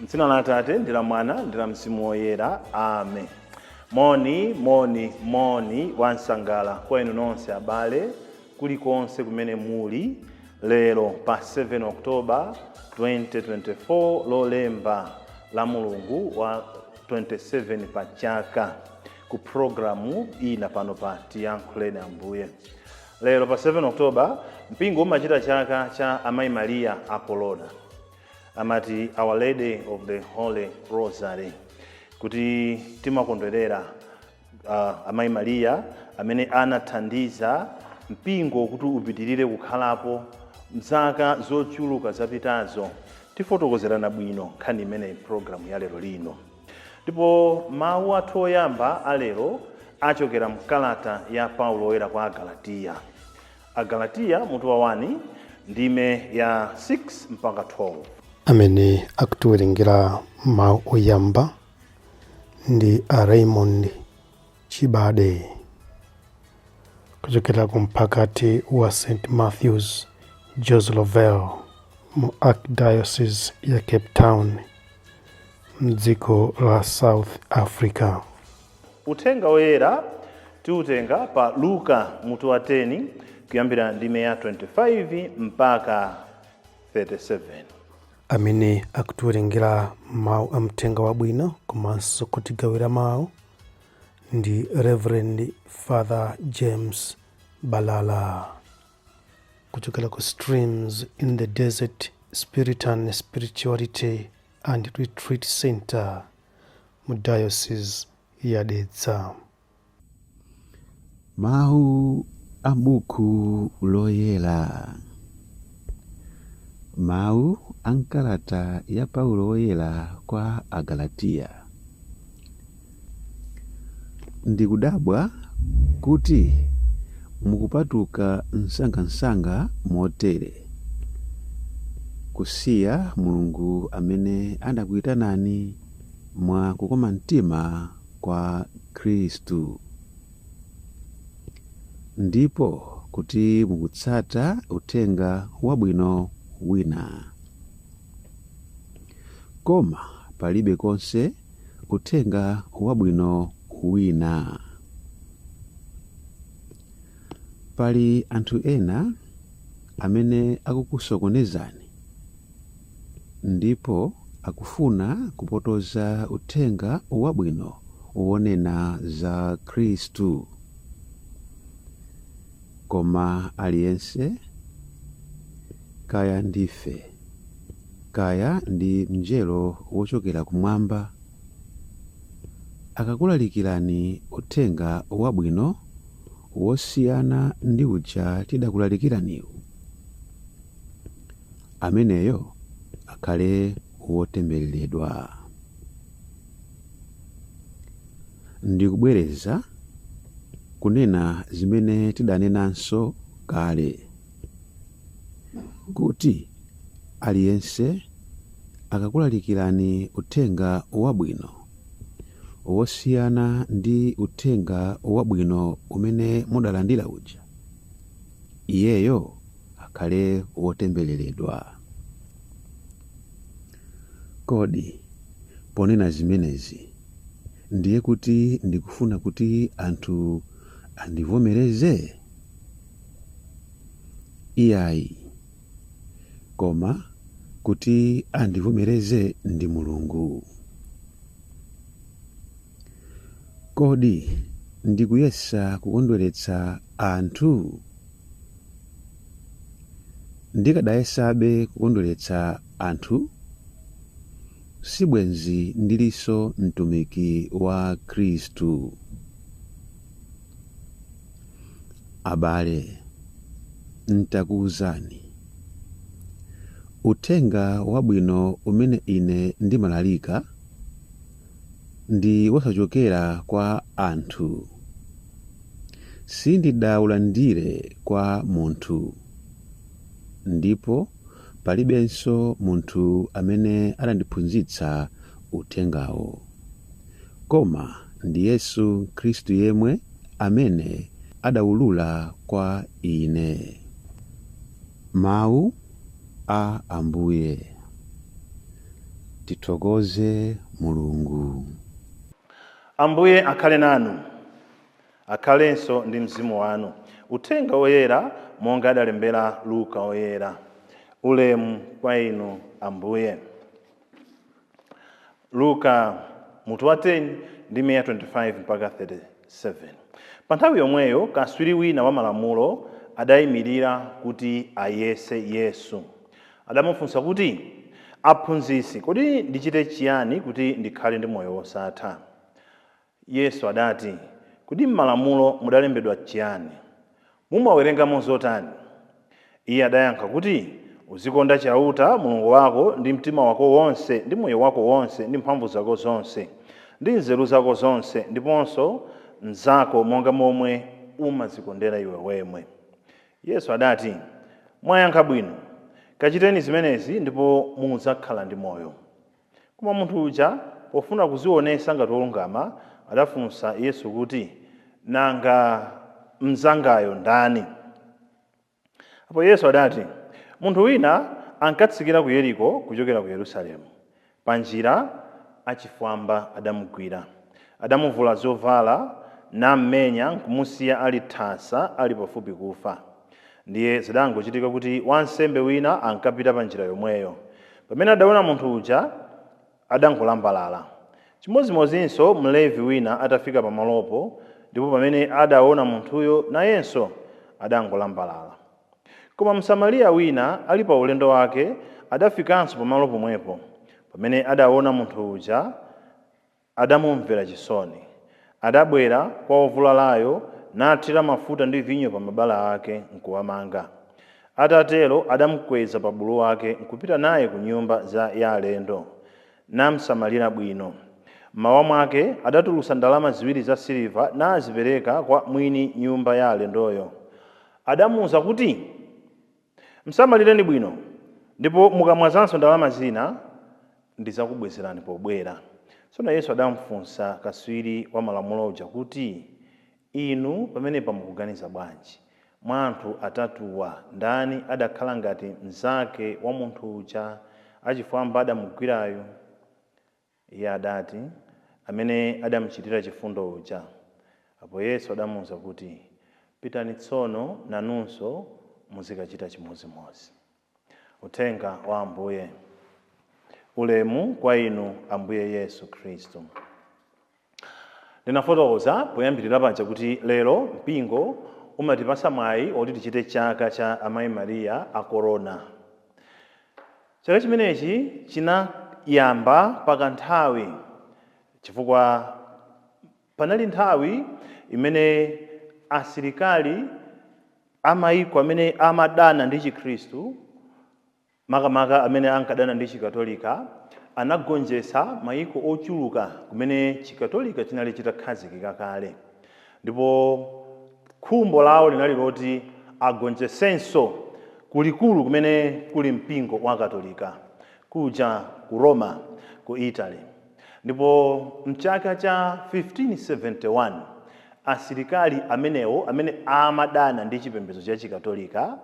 M'dzina la Atate ndi la Mwana ndi la Mzimu Woyera, amen. Moni, moni, moni wansangala kwa inu nonse abale kulikonse kumene muli lero pa 7 Oktoba 2024 lolemba la mulungu wa 27 pa chaka ku programu ina pano pa tiyankhuleni ambuye lero pa 7 Oktoba mpingo umachita chaka cha amayi Maria a Kolona amati our lady of the holy rosary kuti timakondwerera uh, amayi mariya amene anathandiza mpingo kuti upitirire kukhalapo mzaka zochuluka zapitazo tifotokozerana bwino nkhani imeneyi programu ya lero lino ndipo mawu athu oyamba alero achokera mkalata ya paulo woyera kwa agalatiya Agalatiya mutu wa 1 ndime ya 6 mpaka 12. amene akutiwerengera mawu oyamba ndi a raymond chibade kuchokera ku mphakati wa st matthews joe slovo mu archdiocese ya cape town mdziko la south africa Uthenga woyera tiutenga pa Luka mutu wa 10 kuyambira ndime ya 25 mpaka 37. amene akutiwerengera mawu a mthenga wabwino komanso kutigawira mawu ndi reverend father james balala kuchokera ku streams in the desert spiritan spirituality and retreat center mu Diocese ya Dedza. Mawu a Buku Loyera. Mawu a m'kalata ya Paulo Woyera kwa Agalatiya. Ndikudabwa kuti mukupatuka msangamsanga motere, kusiya Mulungu amene anakuitanani mwa kukoma mtima kwa Khristu, ndipo kuti mukutsata uthenga wabwino wina. Koma palibe konse Uthenga wabwino wina. Pali anthu ena amene akukusokonezani ndipo akufuna kupotoza uthenga wabwino wonena za Khristu. Koma aliyense, kaya ndife. Kaya ndi mnjelo wochokera kumwamba akakulalikirani uthenga wabwino wosiyana ndi uja tidakulalikiraniwu, ameneyo akhale wotembereredwa. Ndikubwereza kunena zimene tidanenanso kale. kuti, Aliyense akakulalikirani uthenga wabwino wosiyana ndi uthenga wabwino umene mudalandira uja, iyeyo akhale wotembereredwa. Kodi ponena zimenezi ndiye kuti ndikufuna kuti anthu andivomereze? Iyayi. Koma kuti andivomereze ndi Mulungu. Kodi ndikuyesa kukondweretsa anthu? Ndikadayesabe kukondweretsa anthu, sibwenzi ndilinso mtumiki wa Khristu. Abale, n'takuuzani uthenga wabwino umene ine ndimalalika, ndi wosachokera kwa anthu. Sindidaulandire kwa munthu, ndipo palibenso munthu amene adandiphunzitsa uthengawo. Koma ndi Yesu Khristu yemwe amene adawulula kwa ine Mawu a Ambuye. Tithokoze Mulungu. Ambuye akhale nanu. Akhalenso ndi mzimu wanu. Uthenga Woyera monga adalembera Luka Woyera. Ulemu kwa Inu Ambuye. Luka, mutu wa 10, ndime ya 25 mpaka 37. Pa nthawi yomweyo kaswiri wina wa malamulo adayimirira kuti ayese Yesu. Adamufunsa kuti, Aphunzitsi, kodi ndichite chiyani kuti ndikhale ndi moyo wosatha? Yesu adati, Kodi m'malamulo mudalembedwa chiyani? Mumawerengamo zotani? Iye adayankha kuti, Uzikonda Chauta, Mulungu wako, ndi mtima wako wonse, ndi moyo wako wonse, ndi mphamvu zako zonse, ndi nzeru zako zonse, ndiponso mnzako monga momwe umadzikondera iwe wemwe. Yesu adati, Mwayankha bwino. Kachiteni zimenezi ndipo mudzakhala ndi moyo. Koma munthu uja, pofuna kudzionetsa ngati wolungama, adafunsa Yesu kuti, Nanga mnzangayo ndani? Apo Yesu adati, Munthu wina ankatsikira ku Yeriko kuchokera ku Yerusalemu. Pa njira, achifwamba adamugwira. Adamuvula zovala, nammenya nkumusiya ali thasa, ali pafupi kufa. Ndiye zidangochitika kuti wansembe wina ankapita pa njira yomweyo. Pamene adaona munthu uja, adangolambalala. Chimodzimodzinso Mlevi wina atafika pamalopo, ndipo pamene adaona munthuyo, nayenso adangolambalala. Koma Msamariya wina, ali pa ulendo wake, adafikanso pamalo pomwepo. Pamene adaona munthu uja, adamumvera chisoni. Adabwera kwa wovulalayo nathira mafuta ndi vinyo pa mabala ake, nkuwamanga. Atatero adamukweza pa bulu wake nkupita naye ku nyumba za ya alendo, namsamalira bwino. M'mawa mwake adatulutsa ndalama ziwiri za siliva nazipereka kwa mwini nyumba ya alendoyo. Adamuuza kuti. Msamalireni bwino ndipo mukamwazanso ndalama zina ndidzakubwezerani pobwera. Tsono Yesu adamfunsa katswiri wa Malamulo uja kuti, Inu pamenepa mukuganiza bwanji? Mwa anthu atatuwa, ndani adakhala ngati mnzake wa munthu uja achifwamba adamugwirayu? Iye adati, Amene adamuchitira chifundo uja. Apo Yesu adamuuza kuti, Pitani tsono nanunso muzikachita chimodzimodzi. Uthenga wa Ambuye. Ulemu kwa Inu Ambuye Yesu Khristu. Ndinafotokoza poyambirira paja kuti lero mpingo umatipatsa mwayi woti tichite chaka cha Amayi Maria a Korona. Chaka chimenechi chinayamba pakanthawi chifukwa panali nthawi imene asilikali a mayiko amene amadana ndi Chikhristu makamaka amene ankadana ndi Chikatolika, anagonjetsa mayiko ochuluka kumene Chikatolika chinali chitakhazikika kale, ndipo khumbo lawo linali loti agonjetsenso kulikulu kumene kuli mpingo wa Katolika kuja ku Roma, ku Italy. Ndipo m'chaka cha 1571, asilikali amenewo amene amadana ndi chipembedzo cha Chikatolika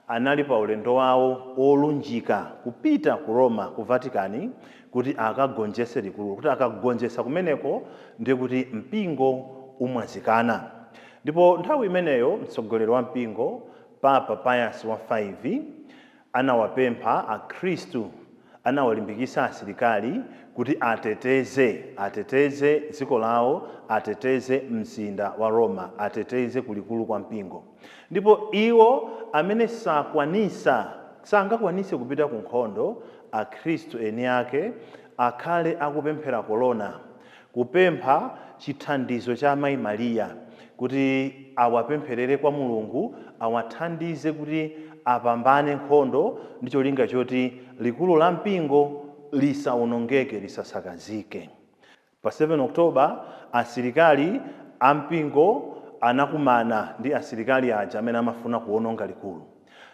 anali paulendo wawo wolunjika kupita ku Roma, ku Vatican, kuti akagonjetse likulu. Kuti akagonjetsa kumeneko, ndiye kuti mpingo umwazikana. Ndipo nthawi imeneyo mtsogoleri wa mpingo, Papa Pius wa 5. Anawapempha akhristu, anawalimbikitsa asilikali kuti ateteze, ateteze dziko lawo, ateteze mzinda wa Roma, ateteze kulikulu kwa mpingo. Ndipo iwo amene sakwanitsa, sangakwanitse kupita ku nkhondo, akhristu eni ake akhale akupemphera kolona, kupempha chithandizo cha Amayi Maria kuti awapempherere kwa Mulungu awathandize kuti apambane nkhondo ndi cholinga choti likulu la mpingo lisawonongeke, lisasakazike. Pa 7 October asilikali a mpingo anakumana ndi asilikali aja amene amafuna kuwononga likulu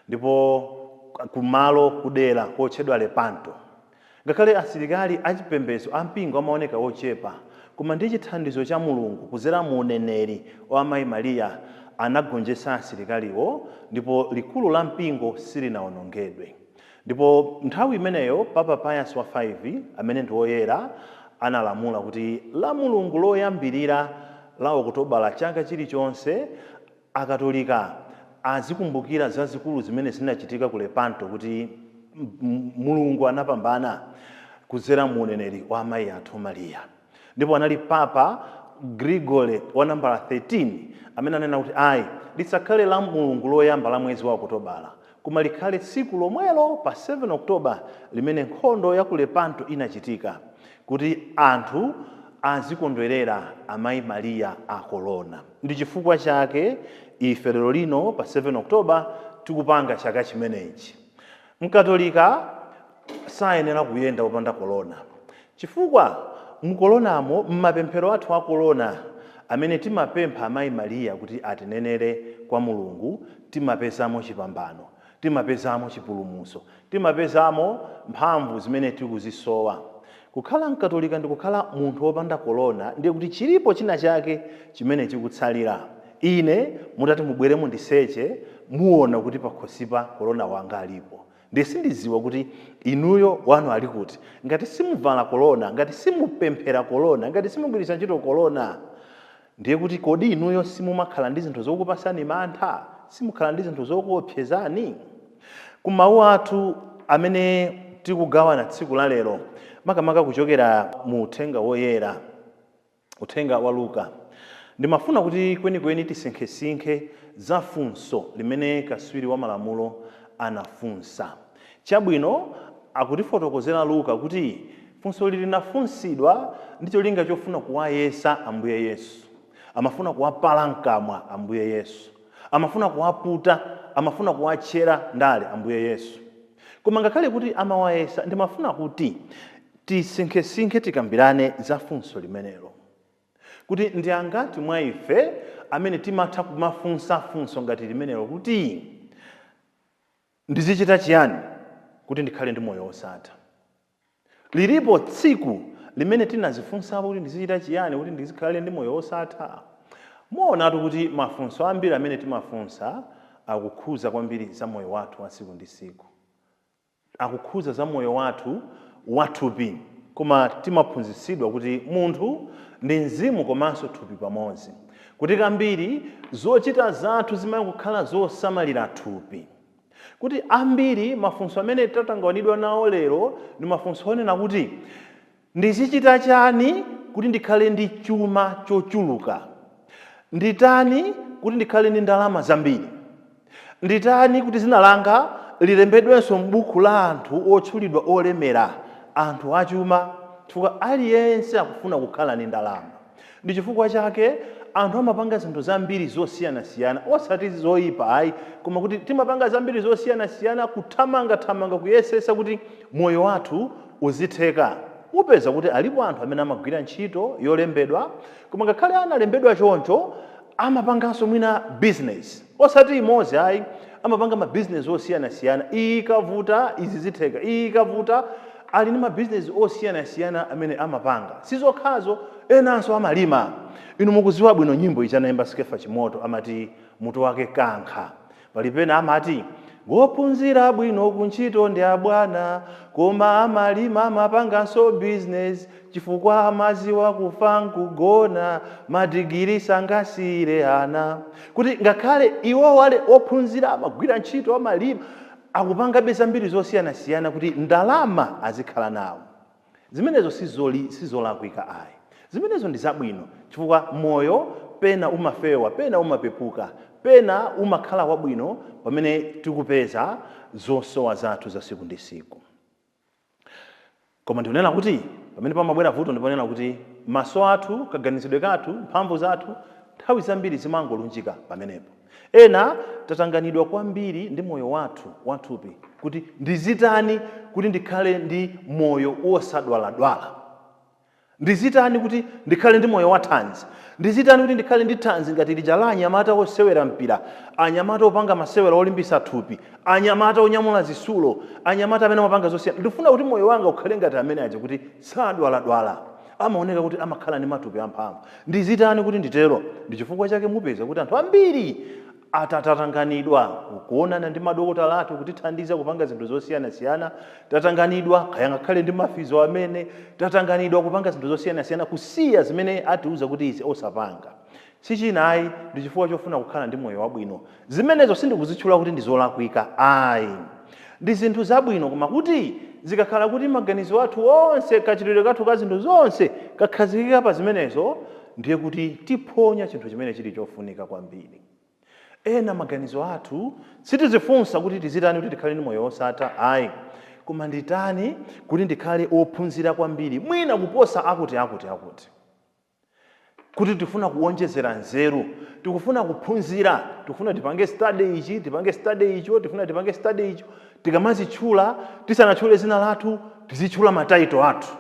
ndipo kumalo, kudera kotchedwa Lepanto. Ngakhale asilikali achipembedzo a mpingo amaoneka ochepa, koma ndi chithandizo cha Mulungu kudzera mu uneneri wa Amayi Maria anagonjetsa asilikaliwo ndipo likulu la mpingo silinawonongedwe. Ndipo nthawi imeneyo Papa Pius wa 5, amene ndi woyera, analamula kuti Lamulungu loyambirira la Okutobala chaka chilichonse, Akatolika azikumbukira zazikulu zimene zinachitika ku Lepanto kuti Mulungu anapambana kudzera mu uneneri wa amayi athu Maria. Ndipo anali Papa Gregory wa nambala 13 amene ananena kuti, Ayi, lisakhale Lamulungu loyamba la mwezi wa Okutobala, Koma likhale tsiku lomwelo pa 7 October limene nkhondo ya ku Lepanto inachitika, kuti anthu azikondwerera Amayi Maria a Korona. Ndi chifukwa chake ife lero lino pa 7 October tikupanga chaka chimenechi. Mkatolika sayenera kuyenda popanda korona. Chifukwa mu Kolonamo, m'mapemphero athu a Kolona amene timapempha Amayi Maria kuti atinenere kwa Mulungu, timapezamo chipambano, timapezamo chipulumutso, timapezamo mphamvu zimene tikuzisowa. Kukhala Mkatolika ndi kukhala munthu wopanda Kolona ndiye kuti chilipo china chake chimene chikutsalira. Ine mutati mubwere mundiseche, muona kuti pakhosipa Kolona wanga alipo. Ndiye sindiziwa kuti inuyo wanu ali kuti. Ngati simuvala kolona, ngati simupemphera kolona, ngati simugwiritsa ntchito kolona, ndiye kuti kodi inuyo simumakhala ndi zinthu zokupasani mantha? Simukhala ndi zinthu zokuopsezani? Ku mawu athu amene tikugawana tsiku la lero, makamaka kuchokera mu uthenga woyera, Uthenga wa Luka. Ndimafuna kuti kwenikweni tisinkhesinkhe za funso limene kaswiri wa malamulo anafunsa. Chabwino, akutifotokozera Luka kuti funso ili linafunsidwa ndi cholinga chofuna kuwayesa Ambuye Yesu. Amafuna kuwapala mkamwa Ambuye Yesu. Amafuna kuwaputa. Amafuna kuwatchera ndale Ambuye Yesu. Koma ngakhale kuti amawayesa, ndimafuna kuti Tisinkhesinkhe, tikambirane za funso limenelo, kuti ndi angati mwa ife amene timatha kumafunsa funso ngati limenelo kuti, Ndizichita chiyani kuti ndikhale ndi moyo wosatha? Lilipo tsiku limene tinazifunsapo kuti ndizichita chiyani kuti ndikhale ndi moyo wosatha? Muonatu kuti mafunso ambiri amene timafunsa akukhudza kwambiri za moyo wathu wa tsiku ndi tsiku. akukhudza za moyo wathu wathupi koma timaphunzitsidwa kuti munthu ndi mzimu komanso thupi pamodzi kuti kambiri zochita zathu zimakhala zosamalira thupi kuti ambiri mafunso amene tatangawanidwa nawo lero ndi mafunso onena kuti Ndizichita chani kuti ndikhale ndi chuma chochuluka? Nditani kuti ndikhale ndi ndalama zambiri? Nditani kuti dzina langa lilembedwenso m'buku la anthu otchulidwa olemera, anthu achuma? Chifukwa aliyense akufuna kukhala ndi ndalama. Ndi chifukwa chake anthu amapanga zinthu zambiri zosiyanasiyana, osati zoipa ayi, koma kuti timapanga zambiri zosiyanasiyana, kuthamangathamanga kuyesetsa kuti moyo wathu uzitheka. Upeza kuti alipo anthu amene amagwira ntchito yolembedwa, koma ngakhale analembedwa choncho, amapanganso mwina bizinesi. Osati imodzi ayi, amapanga ma business osiyanasiyana, iyi ikavuta izi zitheka, iyi ikavuta, ali ndi ma business osiyanasiyana amene amapanga. Si zokhazo, enanso amalima. Inu mukudziwa bwino nyimbo ija anaimba Skeffa Chimoto amati mutu wake Kankha. Pali pena amati, Wophunzira bwino kuntchito ndi abwana, koma amalima amapanganso business, Chifukwa amaziwa kufa nkugona madigili sangasiyire ana kuti ngakhale iwowo ali ophunzira amagwira ntchito amalima akupangabe zambiri zosiyanasiyana kuti ndalama azikhala nawo zimenezo sizolakwika ayi zimenezo ndi zabwino chifukwa moyo pena umafewa pena umapepuka pena umakhala wabwino pamene tikupeza zosowa zathu za siku ndi siku. Koma ndikunena kuti pamene pamabwera vuto ndi ponena kuti maso athu, kaganizidwe kathu, mphamvu zathu nthawi zambiri zimangolunjika pamenepo. Ena tatanganidwa kwambiri ndi moyo wathu wathupi kuti ndizitani kuti ndikhale ndi moyo wosadwaladwala. Ndizitani kuti ndikhale ndi moyo wathanzi? Ndizitani kuti ndikhale ndi thanzi ngati lija la anyamata osewera mpira, anyamata opanga masewera olimbisa thupi, anyamata onyamula zisulo, anyamata amene amapanga zosiyana? Ndifuna kuti moyo wanga ukhale ngati amene aja kuti sadwaladwala, amaoneka kuti amakhala ndi matupi amphamvu. Ndizitani kuti nditero? Ndichifukwa chake mupeza kuti anthu ambiri Atatatanganidwa n'kuonana ndi madokotala athu kutithandiza kupanga zinthu zosiyanasiyana, tatanganidwa kaya ngakhale ndi mafizo amene, tatanganidwa kupanga zinthu zosiyanasiyana kusiya zimene atiuza kuti izi osapanga. Si china ayi ndi chifukwa chofuna kukhala ndi moyo wabwino. Zimenezo sindikuzitchula kuti ndi zolakwika ayi. Ndi zinthu zabwino koma kuti zikakhala kuti maganizo athu onse, kachitidwe kathu ka zinthu zonse kakhazikika pa zimenezo, ndiye kuti tiphonya chinthu chimene chili chofunika kwambiri. Ena maganizo athu sitizifunsa kuti tizitani kuti tikhale ndi moyo wosatha ayi, koma nditani kuti ndikhale ophunzira kwambiri mwina kuposa akuti akuti akuti. Kuti tifuna kuwonjezera nzeru, tikufuna kuphunzira, tikufuna tipange study ichi, tipange study icho, tifuna tipange study icho, tikamazitchula tisanatchule zina lathu tizitchula ma title athu.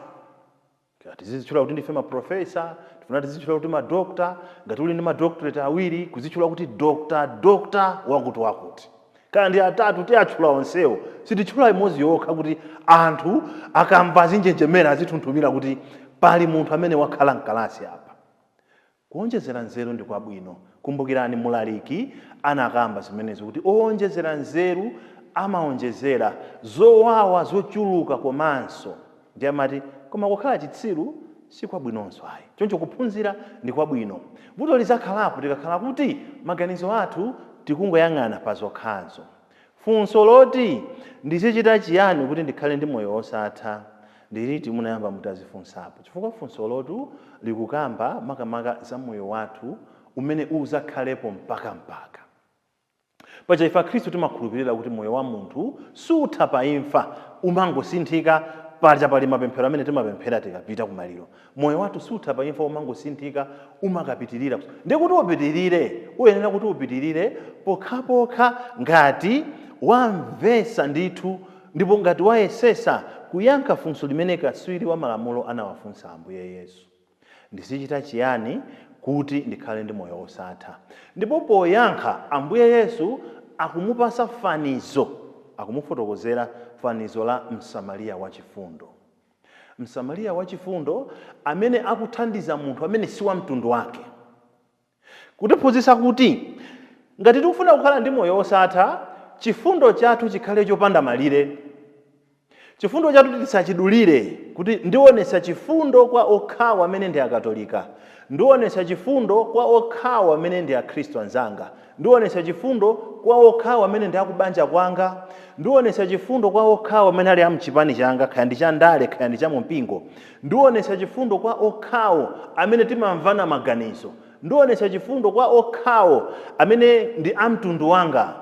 Tizizitchula kuti ndife ma professor, tifuna tizitchula kuti ma doctor, ngati uli ndi ma doctorate awiri kuzitchula kuti Dr. Dr. wakuti wakuti. Kaya ndi atatu tiatchula onsewo, sititchula imodzi yokha kuti anthu akamva azinjenjemera azitunthumira kuti pali munthu amene wakhala mkalasi apa. Kuwonjezera nzeru ndi kwabwino. Kumbukirani Mlaliki anakamba zimenezo kuti, Owonjezera nzeru amawonjezera zowawa zochuluka komanso. Ndiye amati, Koma kukhala chitsiru si kwabwinonso ayi. Choncho kuphunzira ndi kwabwino. Vuto lizakhalapo tikakhala kuti maganizo athu tikungoyang'ana pa zokhazo. Funso loti, Ndizichita chiyani kuti ndikhale ndi moyo wosatha? Ndi liti munayamba mutadzifunsapo? Chifukwa funsolotu likukamba makamaka za moyo wathu umene udzakhalepo mpakampaka. Paja ife Akhristu timakhulupirira kuti moyo wa munthu sutha pa imfa, umangosinthika. Paja pali mapemphero amene timapemphera tikapita kumaliro. Moyo wathu sutha pa imfa umangosinthika umakapitirira. Ndiye kuti upitirire uyenera kuti upitirire pokhapokha ngati wamvetsa ndithu ndipo ngati wayesetsa kuyankha funso limene katswiri wa malamulo anawafunsa Ambuye Yesu, Ndizichita chiyani kuti ndikhale ndi moyo wosatha? Ndipo poyankha Ambuye Yesu akumupatsa fanizo, akumufotokozera fanizo la Msamariya wachifundo. Msamariya wachifundo amene akuthandiza munthu amene si wa mtundu wake. Kutiphunzitsa kuti ngati tikufuna kukhala ndi moyo wosatha, chifundo chathu chikhale chopanda malire. Chifundo chathu tisachidulire kuti ndionetsa chifundo kwa okhawo amene ndi Akatolika, ndionetsa chifundo kwa okhawo amene ndi Akhristu anzanga. Ndionetsa chifundo kwa okhawo amene ndi a ku banja kwanga. Ndionetsa chifundo kwa okhawo amene ali a m'chipani changa, kaya ndi cha ndale kaya ndi cha mu mpingo. Ndionetsa chifundo kwa okhawo amene timamvana maganizo. Ndionetsa chifundo kwa okhawo amene ndi a mtundu wanga.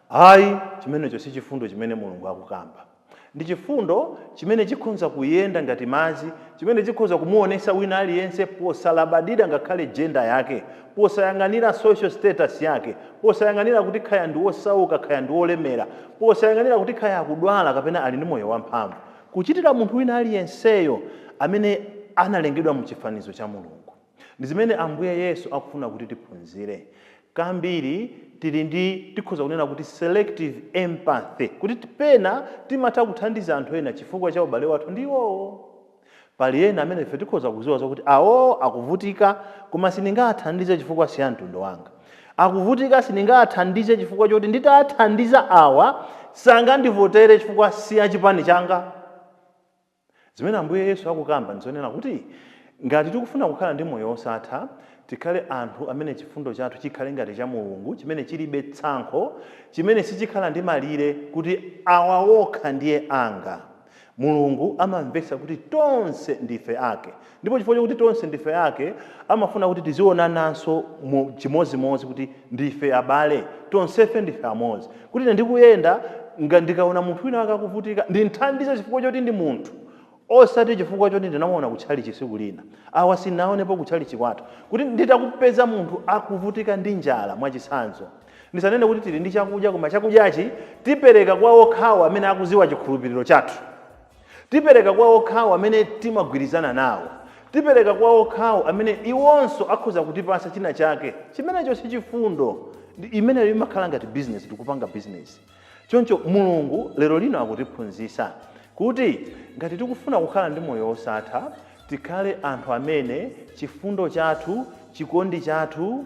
Ayi, chimenecho si chifundo chimene Mulungu akukamba. Ndi chifundo chimene chikhonza kuyenda ngati madzi, chimene chikhoza kumuwonetsa wina aliyense posalabadira ngakhale gender yake, posayang'anira social status yake, posayang'anira kuti khaya ndi wosauka khaya ndi wolemera, posayang'anira kuti khaya akudwala kapena ali ndi moyo wamphamvu. Kuchitira munthu wina aliyenseyo amene analengedwa mu chifanizo cha Mulungu. Ndi zimene Ambuye Yesu akufuna kuti tiphunzire. Kambiri tili ndi, tikhoza kunena kuti, selective empathy, kuti pena timatha kuthandiza anthu ena chifukwa cha ubale wathu ndi iwowo. Pali ena amene ife tikhoza kudziwa zokuti awowo akuvutika koma sindingawathandize chifukwa siamtundu wanga. Akuvutika sindingawathandize chifukwa choti nditawathandiza awa sangandivotere chifukwa siachipani changa. Zimene Ambuye Yesu akukamba ndi zonena kuti ngati tikufuna kukhala ndi moyo wosatha, tikhale anthu amene chifundo chathu chikhale ngati cha Mulungu chimene chilibe tsankho, chimene sichikhala ndi malire kuti awa okha ndiye anga. Mulungu amamvetsa kuti tonse ndife ake. Ndipo chifukwa chakuti tonse ndife ake, amafuna kuti tizionananso chimodzimodzi kuti ndife abale, tonsefe ndife amodzi. Kuti ine ndikuyenda, ndikaona munthu wina wake akuvutika, ndimthandize chifukwa choti ndi munthu, osati chifukwa choti ndinamuona ku tchalitchi tsiku lina. Awa sindinawaonepo ku tchalitchi kwathu. Kuti nditakupeza munthu akuvutika ndi njala, mwachitsanzo, ndisanene kuti tili ndi chakudya, koma chakudyachi tipereka kwa okhawo amene akudziwa chikhulupiriro chathu. Tipereka kwa okhawo amene timagwirizana nawo. Tipereka kwa okhawo amene iwonso akhoza kutipatsa china chake. Chimenecho si chifundo. Imeneyo imakhala ngati bizinesi, tikupanga bizinesi. Choncho Mulungu lero lino akutiphunzitsa kuti ngati tikufuna kukhala ndi moyo wosatha, tikhale anthu amene chifundo chathu, chikondi chathu,